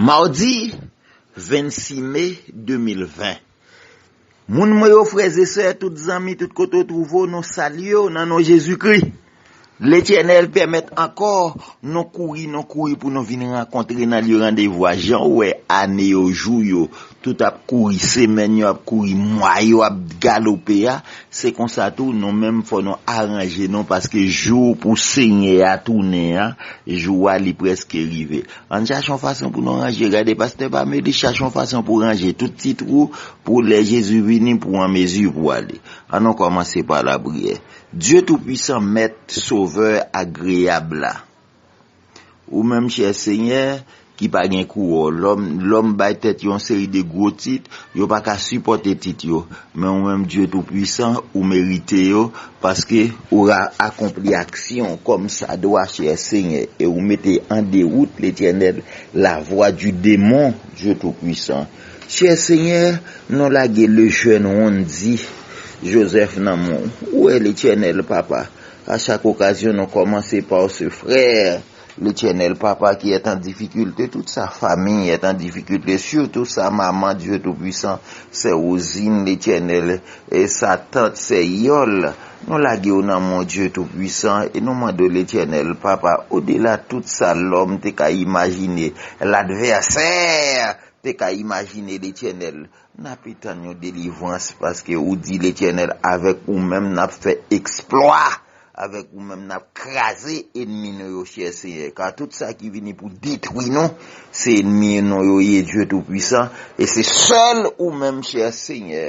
Madi 26 me 2020 Moun mwen yo frè e sè tout zanmi tout kote ou twouve w nou salye w nan non Jezi Kri Letènèl pèmèt ankò nou kouri nou kouri pou nou vin rankontre nan lye randevou a jan w wè ane yo jou yo Tout ap kouri, semèn yo ap kouri, mwa yo ap galope a, se konsa tou nou menm fò nou aranje nou paske jou pou Senyè a tounen an, jou a li prèske rive. Ann chache yon fason pou nou ranje, gade pastè pa m yo di chache yon fason pou ranje tout ti twou pou lè Jezi vini pou w an mezi pou w ale. An nou kòmanse pa lapriyè. Dye Toupuisan, Mèt, Sovè, Agreyab la, Ou menm chè Senyè, ki pa gen kou wò. Lòm, lòm bay tèt yo yon seri de gwo tit, yo pa ka sipòte tit yo. Men ou menm Dye Toupuisan, ou merite yo, paske ou ra akonpli aksyon kòmsadwa, chè Senyè, e ou mete an dewout, Letènèl, lavwa di demon, Dye Toupuisan. Chè Senyè, nou lage lejèn wonn di Jozèf nan men w. Ou wè, Letènèl, Papa, A chak okazyon nou kòmanse par ce Frère, L'Eternel Papa qui est en difficulte, tout sa famille est en difficulte, surtout sa maman Dieu tout puissant, sè Rosine, L'Eternel, e sa tante, sè Yòl, nou lage yo nan mon Dieu tout puissant e nou mande w L'Eternel Papa au delà tout sa lòm te ka imajine, l'adversaire te ka imajine L'Eternel, Nape tann yon delivrans paske ou di Letènèl avèk ou menm nap fè eksplwa avèk ou menm nap kraze enmi nou yo chè Senyè ka tout sa ki vini pou detwi nou se enmi nou yo ye Dye tou pwisan e se sèl ou menm chè Senyè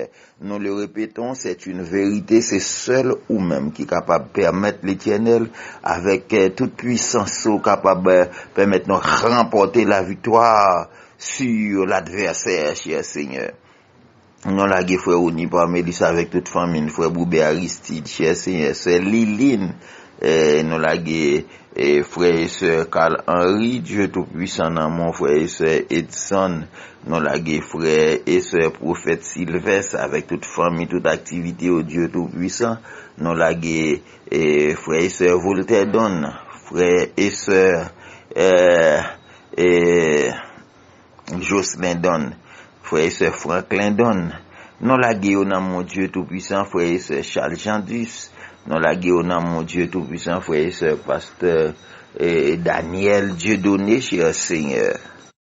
nou le repeton sèt yn verite se sèl ou menm ki kapab pèmèt Letènèl avèk tout pwisans ou kapab pèmèt nou ranpòte laviktwa. Sur l'adversaire cher seigneur non lage frè Rony Parmelus avèk tout fanmil frè Boube Aristide cher seigneur sè Liline non lage frè e sè Carl Henry Dieu tout puissant nan mon frè e sè Edson non lage frè e sè prophète Sylvestre avèk tout fanmi tout aktivite yo Dieu tout puissant non lage frè e sè Voltaire Don frè e sè eh. Ee Jocelin Don, frè e sè Franklin Don, nou lage yo nan mon Dye tou pwisan frè e sè Charles Jean Duce, nou lage yo nan mon Dye tou pwisan frè e sè pastè Daniel Dieudonné cher Seigneur.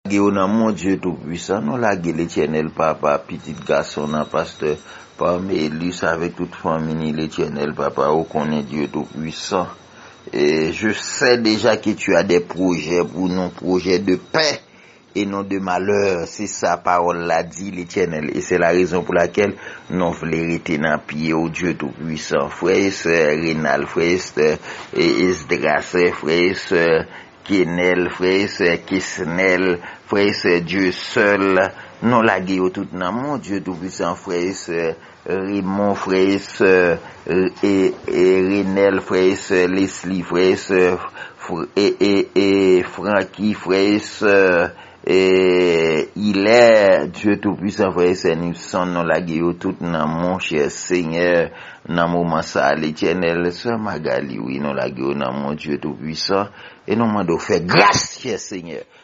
Lage yo nan mon Dye tou pwisan, nou lage Letènèl Papa pitit gason nan pastè Parmelus avèk tout fanmi ni Letènèl Papa ou konnen Dye tou pwisan. Je sais deja ke tu as des projets pou nou, projets de paix et non de malheur, se sa pawòl la di, Letènèl, e se la rezon pou lakèl nou vle rete nan pye ou, Dye tou pwisan. Frè e sè Renald, frè e sè Esdras, frè e sè Kenel, frè e sè Kesnel, frè e sè Dieu seul, nou lage yo tout nan men w, Dye tou pwisan, frè e sè Raymond, frè e sè Renel, frè e sè Lesly, frè e sè Francky, frè e sè Hilaire, Dieu tout puissant, frè e sè Nipson, nou lage yo tout nan mou chè Senyè nan moman sa a Letènèl, sè Magalie wi nou lage yo nan mou Dieu tout puissant e nou mande w fè gras chè Senyè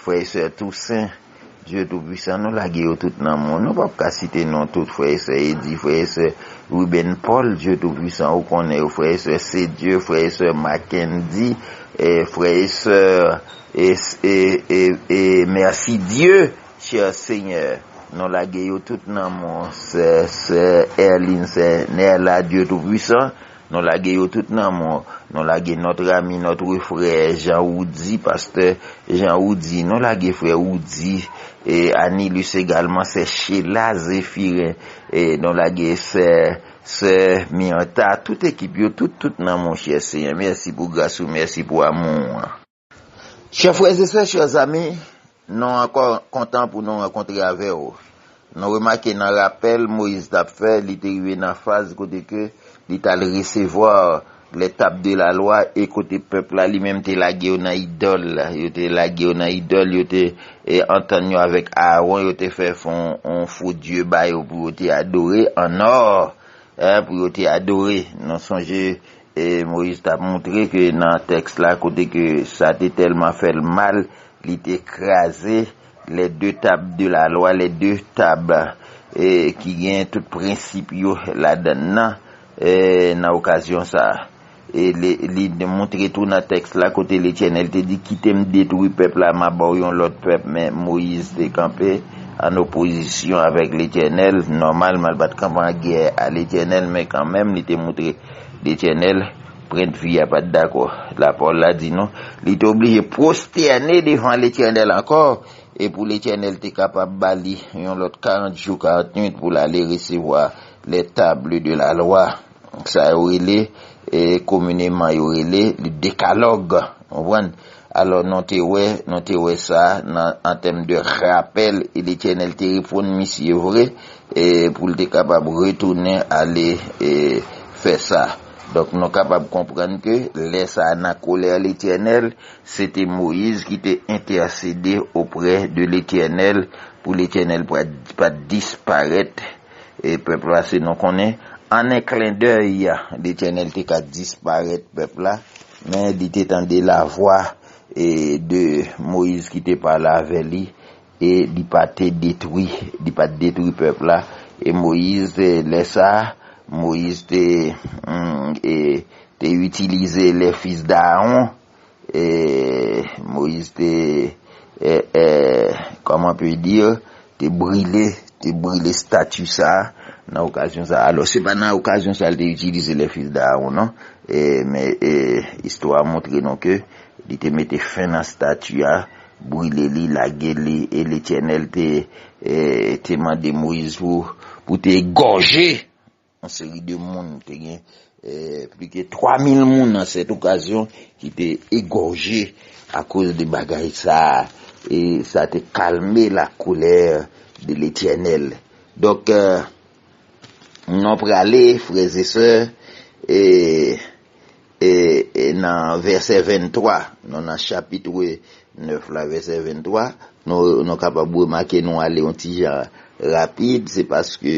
Frè e sè Toussaint, Dieu tout puissant nou lage yo tout nan mò, nou pap ka site non tout frè e sè Eddy, frè e sè Ruben Paul, Dieu tout puissant ou konnen yo, frè e sè Cedieu, frè e sè Mackendy, frè e sè e Mercidieu, cher Seigneur nou lage yo tout nan mò, sè Erline, sè Nerla, Dieu tout puissant. Nou lage yo tout nan mò. Nou lage notre ami, notre frère Jean Roudy, Pasteur Jean Roudy. Nou lage frè Roudy, Anilus egalman, sè Sheila Zephyrin. Nou lage sè, soeur Myrtha. Tout ekip yo, tout, tout nan monchè Senyè. Mèsi pou gras ou, mèsi pou amou ou an. Chè frèzesè, chè zami, nou ankò kontan pou nou rankontre avè ou. Nou remake nan rapèl Moyiz tap fè, li te rive nan faz kote ke li tal resevwa les tables de la loi e kote pèp la li menm te lage yo nan idòl, yo te lage yo nan idòl, yo te antann yo avèk Aaron, yo te fè fon yon fo dye ba yo pou yo te adore, an or, pou yo te adore. Nou sonje Moyiz t ap montre ke nan tèks la kote ke sa te tèlman fè l mal, li te kraze les deux tables de la loi, les deux tables ki gen tout prensip yo ladann nan, nan okazyon sa a. E li montre tou nan tèks la kote Letènèl te di, Kite m detwi pèp la, m a ba w yon lòt pèp. Men, Moyiz te kanpe an opozisyon avèk Letènèl. Nòmalman, l pa t kanpe an gè a Letènèl, men kanmenm li te montre. Letènèl, prent fi a pat dakò. Lapawòl la di nou, li te oblije pwostène devan Letènèl ankò, e pou Letènèl te kapab ba li yon lòt karant jou karant nuit pou l ale resevwa lè table de la lwa, sa yo rele, komineman yo rele, li dekalòg. Konprann? Alò nou te wè, nou te wè sa nan an tèm de rapèl e Letènèl te reponn misye vre e pou l te kapab retounen ale e fè sa. Donk nou kapab konprann ke lè sa a nan kolè Letènèl, se te Moyiz ki te entèsede oprè de Letènèl pou Letènèl pa t disparèt E pèp la se nou konnen. An en klendèy, Letènèl te ka disparèt pèp la, men li te tande lavwa e de Moyiz ki te pale avè li, e li pa te detwi, li pa te detwi pèp la. E Moyiz te, lè sa a, Moyiz te, e, te itilize lè fis d'Aaron, E Moïse te e e kòman on peut dire te brile, te brile stati sa a nan okazyon sa a. Alò se pa nan okazyon sa a li te itilize les fils d'Aaron non. E men e istwa a montre nou ke li te mete fen nan stati a, brile li, lage li e Letènèl te e te mande Moïse pou pou te egòje Yon seri de moun, te gen plis ke 3000 moun nan sèt okazyon ki te egòje akoz de bagay sa a, e sa te kalme la colère de l'Etènèl. Donk, nou prale, frè e sè, e E nan vèsè 23, nou nan chapitre 9 la vèsè 23, nou kapab remake nou ale yon ti jan rapid, se paske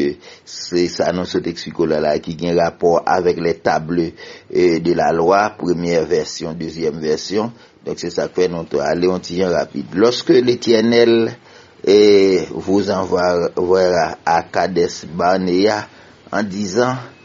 se sa nou sot eksplike w la la ki gen rapò avèk les tables de la loi, premyè vèsyon, dezyèm vèsyon, donk se sa k fè nou te ale yon ti jan rapid. Lorsque l'Etiènèl vous envoyera à Kades-Barnea en disant,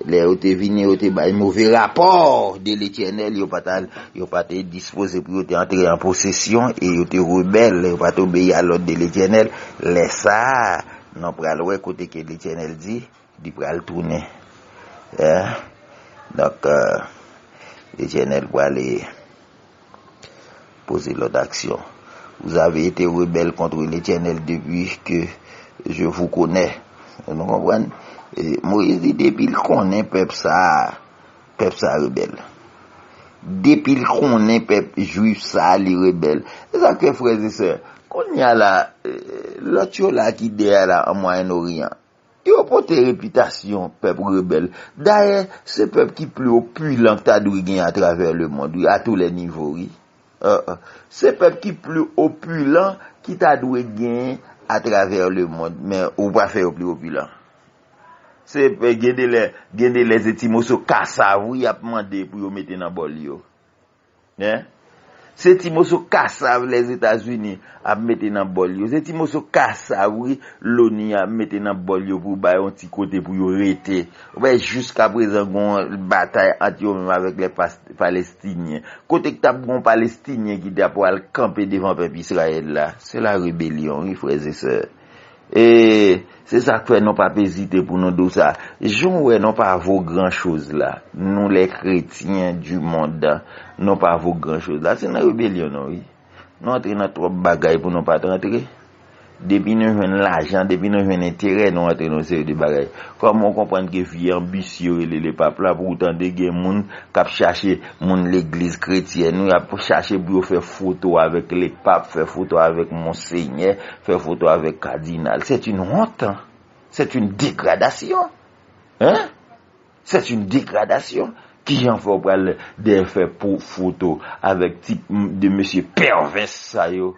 Lè yo te vini, yo te bay move rapò de Letènèl, yo pa t al, yo pa te dispoze pou yo te antre an posesyon, e yo te rebèl, yo pa t obeyi a lòd de Letènèl, lè sa a, nou pral wè kote ke Letènèl di Li pral tounen. Donk, Letènèl prale. Poze lòd aksyon. Vous avez été rebelles contre l'Eternel depi ke je vous connais. Nou konprann? Moyiz di depi l konnen pèp sa a, pèp sa a rebèl. Depi l konnen pèp jwif sa a li rebèl. Se sa k fè frè e sè, kounye a la, lòt yo la ki dèyè la an Mwayen Oryan, Yo pote repitasyon pèp rebèl. Dayè, se pèp ki pli opilan k ta dwe gen atravè lemond wi, a tou lè nivo wi. Se pèp ki pli opilan ki ta dwe gen atravè lemond, men ou pa fè yo pli opilan. Se pèp, gen de lè, gen de lè se ti moso kasav wi y ap mande pou yo mete nan bòl yo. Hein? Se ti moso kasav Lèzetazini ap mete nan bòl yo. Se ti moso kasav wi Loni ap mete nan bòl yo pou bay yon ti kote pou yo rete. Ou wè jiska prezan gon batay ant yo menm avèk lè Palestinyen. Kote k tap gon Palestinyen ki tap pwal kanpe devan pèp Israël la? Se la rebelyon wi frèzesè. E se sa k fè nou pap ezite pou nou di w sa. Jan w wè nou pa vo gran choz la, nou lè kretyen di mond, nou pa vo gran choz la, se nan rebelyon nou ye. Nou antre nan twòp bagay pou nou pa t antre. Depi nou jwenn lajan, depi nou jwenn enterè, nou antre nan yon seri de bagay. Kòman w konprann ke vye anbisye yo rele lepap la pou w tande gen moun k ap chache moun legliz kretyèn yo, y ap chache pou yo fè foto avèk lepap, fè foto avèk monsenyè, Fè foto avèk kadinal c'est une honte, c'est une dégradation hein, c'est une dégradation kijan fè ou pral dèyè fè foto avèk ti 2 mesye pèvès sa yo,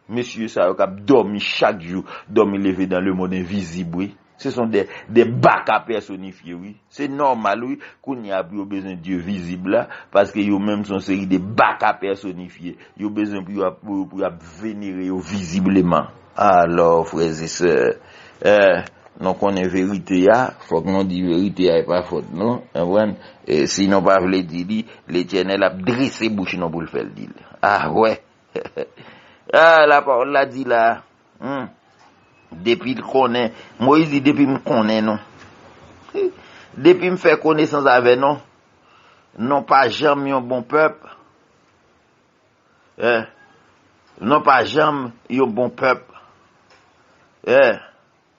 mesye sa yo kap dòmi chak jou, dòmi leve dans le monde invisible wi. Se son de de baka pèsonifye wi. Se nòmal wi kounye a pou yo bezwen Dye vizib la, paske yo menm son seri de baka pèsonifye. Yo bezwen pou yo ap pou yo pou yo ap venere yo vizibleman. Alò, frèzesè, eh, nou konnen verite a, fòk nou di verite a e pa fòt nou, konprann? E si nou pa vle di li, Letènèl ap drese bouch nou pou l fè l di l. Ahwè! He he he! Ah, lapawòl la di la! Humm depil konnen Moise di depim konnen nou hi depim fè konesans avè nou nou pa janm yon bon pèp eh nou pa janm yon bon pèp eh.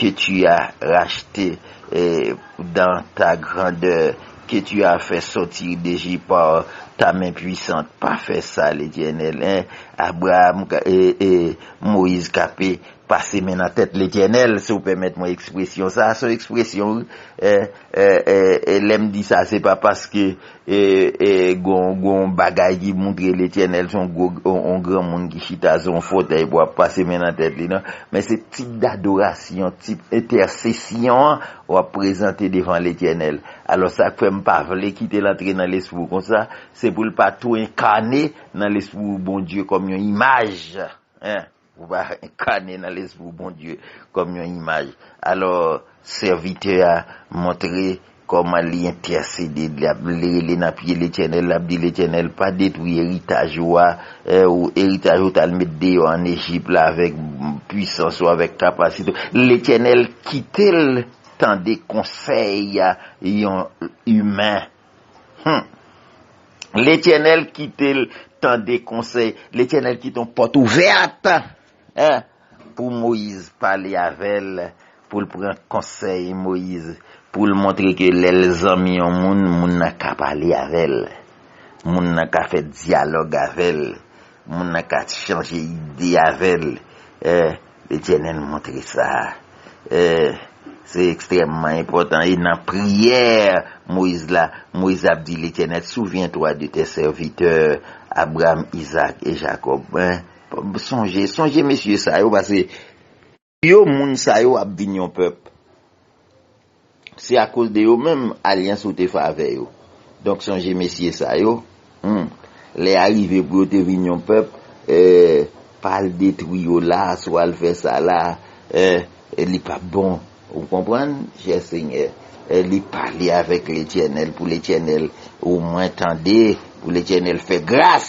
Ke tu a rachte dans ta grandeur, ke tu a fè sòti de Ejip par ta men puisant, pa fè sa Letènèl eh, Abraam eh, Moyiz Kape pase men nan tèt Letènèl, si w pèmèt mwen ekspresyon sa, son ekspresyon wi eh, eh, eh, lè m di sa se pa paske. E g'on bagay ki moutre Letyènèl se on granmoun ki chita sou on fotèy pou ap pase men nan tèt li, non. Men se tip dadorasyon, tip entèsesyon an ou ap prezante devan Letyènèl. Alò sa k fè m pa vle kite l antre nan lespri w konsa, se pou l pa tou enkane nan lespri w Bondye kòm yon imaj. Ou va enkane nan lespri Bondye kòm yon imaj. Alò, sèvitè a montre kòman li entèsede, li rele nan pye Letènèl, l'ap di, Letènèl, pa detwi eritaj ou a, eritaj ou t'al met deyò an Ejip la avèk pwisans ou, avèk kapasite ou. Letènèl kite l tande konsèy yon imen. Humm. Letyenel kitel tande konsey. Letyenel kite yon pot ouvet. Hein. Pou Moise pale avel. Poul pran konsey Moise. Poul montre ke lel zanmi yon moun. Moun nan ka pale avel. Moun nan ka fe dialog avel. Moun nan ka chanje ide avel. Hein. Letènèl montre sa se ekstrèmman enpòtan e nan priyè Moyiz la, Moyiz ap di Letènèl, souvyentwa de tè sèvitè Abraam, Izaak e Jakòb. Sonje, sonje mesye sa yo pase pou yo moun sa yo ap vin yon pèp. Se akoz de yo menm alyans ou te fè avè yo. Donk sonje mesye sa yo, humm, lè a rive pou yo te vin yon pèp, eh, pa al detwi yo la a, swa al fè sa la a, eh, li p ap bon. Ou konprann, chè Senyè? Eh, li pale avèk Letènèl, pou Letènèl omwen tande, pou Letènèl fè gras!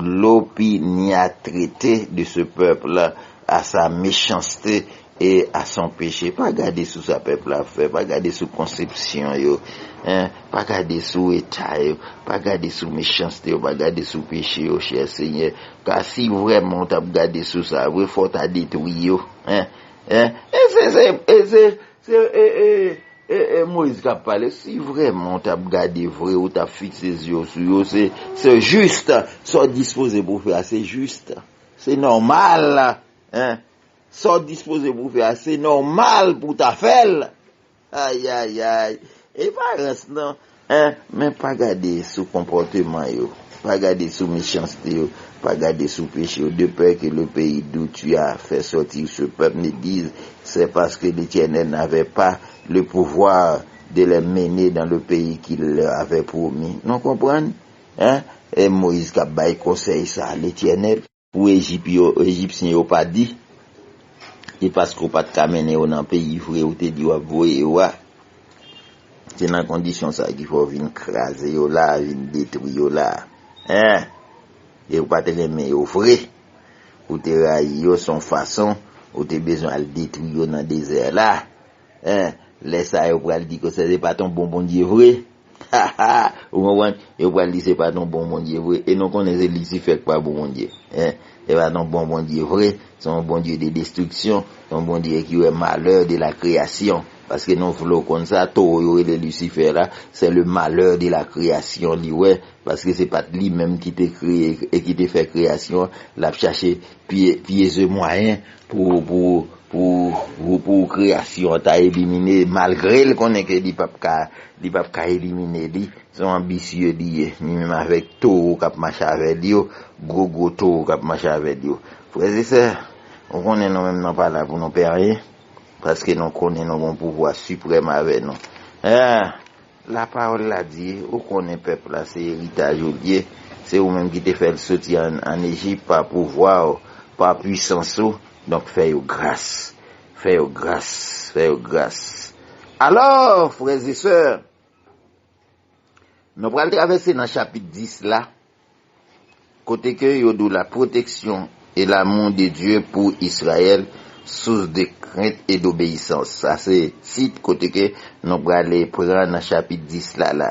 L'opiniâtreté de ce peuple a sa méchanceté et a son péché. Pa gade sou sa pèp la ap fè, pa gade sou konsepsyon yo, pa gade sou eta yo, pa gade sou méchanceté yo, pa gade sou péché yo, chè Senyè, ka si vrèman ou t'ap gade sou sa vre, fò w ta detwi yo. Se ee Moise kap pale si vreman ou tap gade vre ou tap fixe zye ou sou yo se se juste sa ou dispoze pou fè a se juste se normal hein sa ou dispoze pou fè a se normal pou ta fèl ayayay epa rans nan. Eh, men pa gade sou konpòteman yo, pa gade sou mechanste yo, pa gade sou peche yo, de pè ke le peyi dou tu a fè sòti se pèp ne diz, sè paske Letènèl navè pa le pouvwa de lè mene dan le peyi ki lè avè pwomi. Nou konprann? Eh, e Moyiz k'ap bay konsèy sa, Letènèl. Pou Ejip yo, Ejipsyen yo pa di, Se paske w pa t ka mennen yo nan peyi vre ou te di w ap voye yo a. Se nan kondisyon sa a ki fè w vin kraze yo la a, vin detwi yo la a. Hein! E ou pa t renmen yo vre. Ou te rayi yo, s on fason ou te bezwen al detwi yo nan dezè la a. Hein! Lè sa a yo pral di ke se pa t on bon Bondye vre. Haha ou konprann yo pral di se pa ton bon Bondye vre e nou konnen se lisifè ki pa bon Bondye hein se pa ton bon Bondye vre se yon Bondye de destriksyon se yon Bondye ki wè malè de la kreyasyon paske nou vle w konn sa towo yo rele lisifè la se le malè de la kreyasyon li wè paske se pat li menm ki te kreye e ki te fè kreyasyon lap chache pye pye ze mwayen Pou pou pou kreyasyon an ta elimine malgre l konnen ke li pap ka li pap ka elimine li se yon anbisye li ye ni menm avèk towo k ap mache avè l yo gwo gwo towo k ap mache avè l yo frè e sè nou konnen nou menm nan pa la pou nou pè anyen paske nou konnen nou gen yon pouvwa siprèm avè nou eh La pawòl la di, Ou konnen pèp la se eritaj ou l ye, se ou menm ki te fè l soti ann Ejip pa pouvwa ou, pa puisans ou, donk fè yo gras. Fè yo gras, fè yo gras. Alò, frèzesè, nou pral travèse nan chapit 10 la. Kote ke yo dou la pwoteksyon e lamou de Dye pou Israël, sous de krent e d'obeyisans. Sa se tit kote ke nou prale pran nan chapit 10 la la.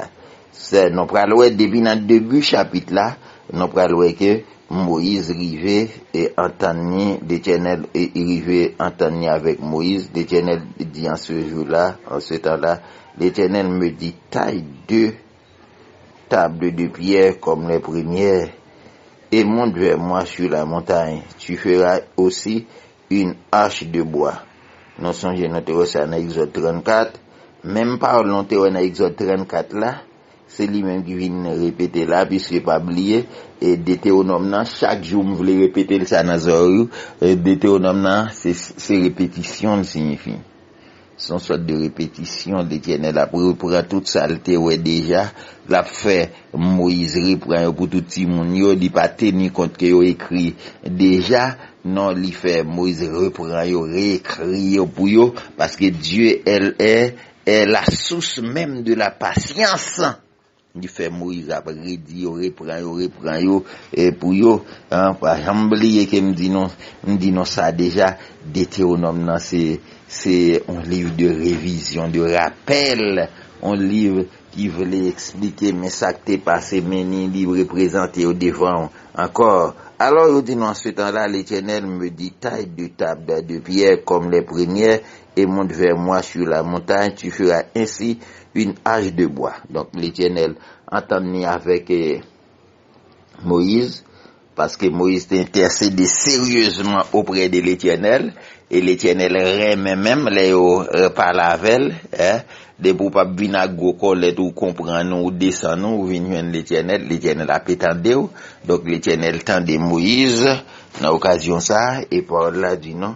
Sè nou pral wè depi nan debu chapit la, nou pral wè ke Moïse rive e antann ni, Letènèl rive antann ni avèk Moïse, Letènèl di an ce jour là, an ce temps là, Letènèl me di taille de. Table de pierre comme les premières, et monte vers moi sur la montagne, tu feras aussi une arche de bois. Nou sonje nou te wè sa nan Egzòd 34, menm pawòl nou te wè nan Egzòd 34 la, se li menm ki vin repete la, piske pa bliye, Detewonòm nan, chak jou m vle repete l sa nan zòrèy ou, Detewonòm nan se repetisyon l siyifi. Se yon sòt de repetisyon, Letènèl ap repran tout sa l te wè deja, l ap fè Moyiz repran yo pou tout timoun yo, li pa teni kont ke yo ekri deja, non li fè Moyiz repran yo, re-ekri yo pou yo, paske Dye è la sous menm de la pasyans. Yo fè Moïse ap redi yo, repran yo, repran yo pou yo. Pa janm bliye ke m di nou, m di nou sa deja, Detewonòm nan se yon liv de revizyon, de rapèl, yon liv ki vle eksplike men sa k te pase, men ni li reprezante yo devan ou ankò. Alò yo di nou, En ce temps-là, l'Etènèl me dit, Taille deux tables de pierre kòm lè premyè, Et monte vers moi sur la montagne, tu feras ainsi une hache de bois. Donk Letènèl antann li avèk Moyiz, paske Moyiz te entèsede seryezman oprè de Letènèl, e Letènèl renmen menm lè yo pale avè l, depi ou pa p vin ak gwo kòlèt ou konprann ou, ou desann ou, ou vin jwenn Letènèl, Letènèl ape tande w. Donk Letènèl tande Moyiz nan okazyon sa a, e pawòl la di nou.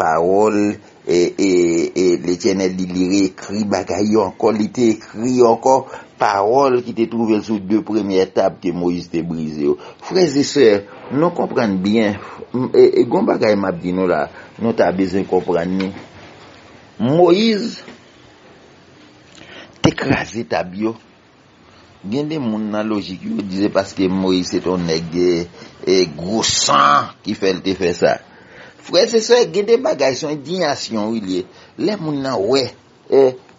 Pawòl e Letènèl li li reekri bagay yo ankò li te ekri yo ankò pawòl ki te twouve l sou de premyè tab ke Moyiz te brize yo frèzesè nou konprann byen gon bagay map di nou la nou ta bezwen konprann ni Moyiz te kraze tab yo Gen de moun nan lojik yo di se paske Moyiz se te yon nèg gwo san ki fè l te fè sa. Frè e sè, gen de bagay se yon endinyasyon wi li ye. Lè moun nan wè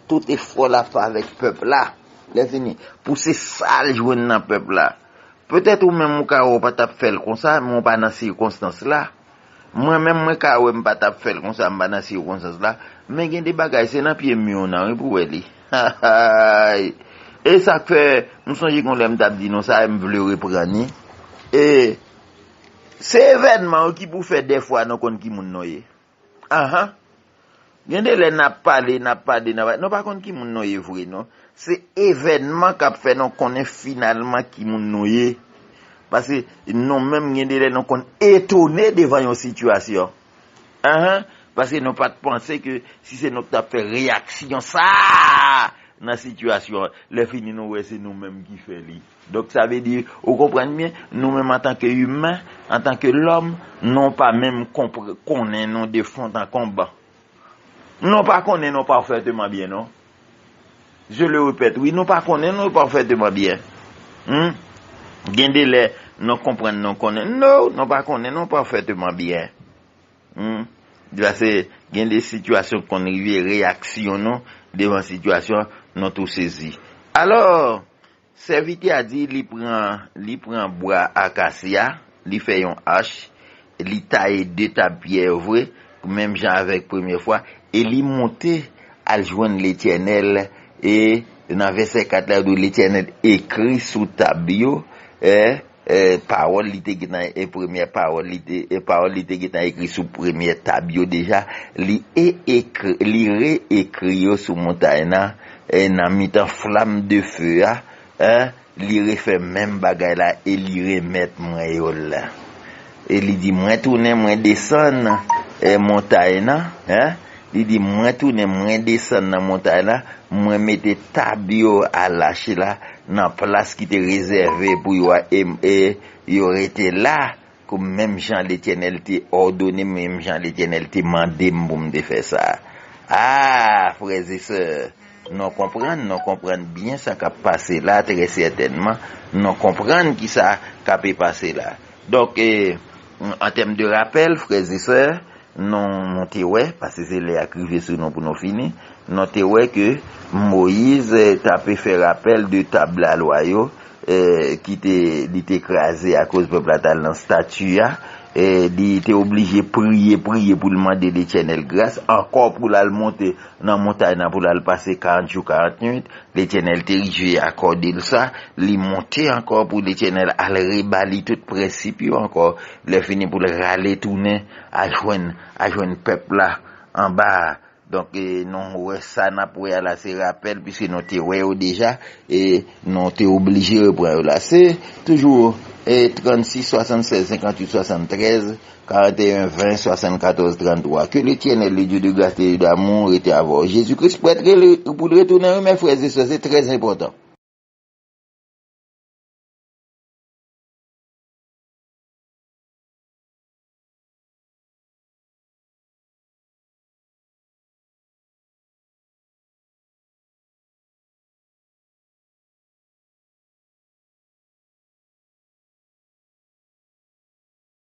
tout efò l ap fè avèk pèp la, lèfini pou se sa l jwenn nan pèp la. Petèt ou menm ou ka wè ou pa t ap fè l konsa men ou pa nan sikonstans la. Mwen menm mwen ka wè m pa tap fèl konsa m pa nan sikonstans la men gen de bagay se nan pye mi w nan wi pou wè li hahaay e sak fè m sonje gon lè m tap di nou sa e m vle reprann ni e se evènman yo ki pou fè dèfwa nou konn ki moun nou ye ahan. Gen de lè nap pale nap pade nap nou pa konn ki moun nou ye vre non se evènman kap fè nou konnen finalman ki moun nou ye paske nou menm gen de lè nou konn etone devan yon sitiyasyon anh paske nou pat panse ke si se nou ki tap fè reyaksyon sa nan sitiyasyon lè fini nou wè se nou menm ki fè li. Donk sa vle di, ou konprann byen, nou menm antanke imen, antanke lòm, nou pa menm konnen nou de font an konb. Nou pa konnen nou pafèteman byen non. Je le repète wi, nou pa konnen nou pafèteman byen. Hum! Gen de lè, nou konprann nou konnen. No! Nou pa konnen nou pafèteman byen. Hum! Pase gen de sitiyasyon ki konn rive, reyaksyon nou devan sitiyasyon, nou tou sezi. Alò! Sèvitè a di li pran li pran bwa akasya, li fè yon ach, li taye de tab pyè yo vre, menm jan avèk premye fwa, e li monte al jwenn Letènèl, e nan vèsè 4 la, yo di Letènèl ekri sou tab yo, e Pawòl li te gentan e premyè pawòl li te e pawòl li te gentan ekri sou premyè tab yo deja, li e ekri, li re ekri yo sou montay nan, e nan mitan flam de fe a, e li refè menm bagay la e li remèt mwen yo l. E li di, Mwen tounen, mwen desann montay nan, eh, li di, Mwen tounen, mwen desann nan montay la, mwen mete tab yo a lache la nan plas ki te rezève pou yo a, e, e yo rete la pou m menm jan Letènèl te òdone m, menm jan Letènèl te mande m pou m te fè sa. A, frèzesè, nou konprann, nou konprann byen sa k ap pase la, trè sètènman, nou konprann ki sa k ape pase la. Donk, an tèm de rapèl, frè e sè, nou te wè, paske se lè a k rive sou nou pou nou fini, nou te wè ke Moyiz t ape fè rapèl de tab lalwa yo ki te, li te kraze akoz pèp la t al nan stati a, li te oblije priye, priye pou l mande Letènèl gras, ankò pou l al monte. Nan montay nan pou l al pase karant jou karant nuit, Letènèl te rive akòde l sa, li monte ankò pou Letènèl al reba li tout prensip yo ankò, lèfini pou l rale tounen ajwenn ajwenn pèp la anba a. Donk nou wè sa n ap wè a la se rapèl piske nou te wè yo deja e nou te oblije repran yo la. Se toujou 36, 76, 58, 73. 41 20 74 33 Ke Letiènèl li diw de gras de Dieu damou rete avèw Jezi Kris prèt rele poul retounen wi mè frè ze sè se trè enpòtan.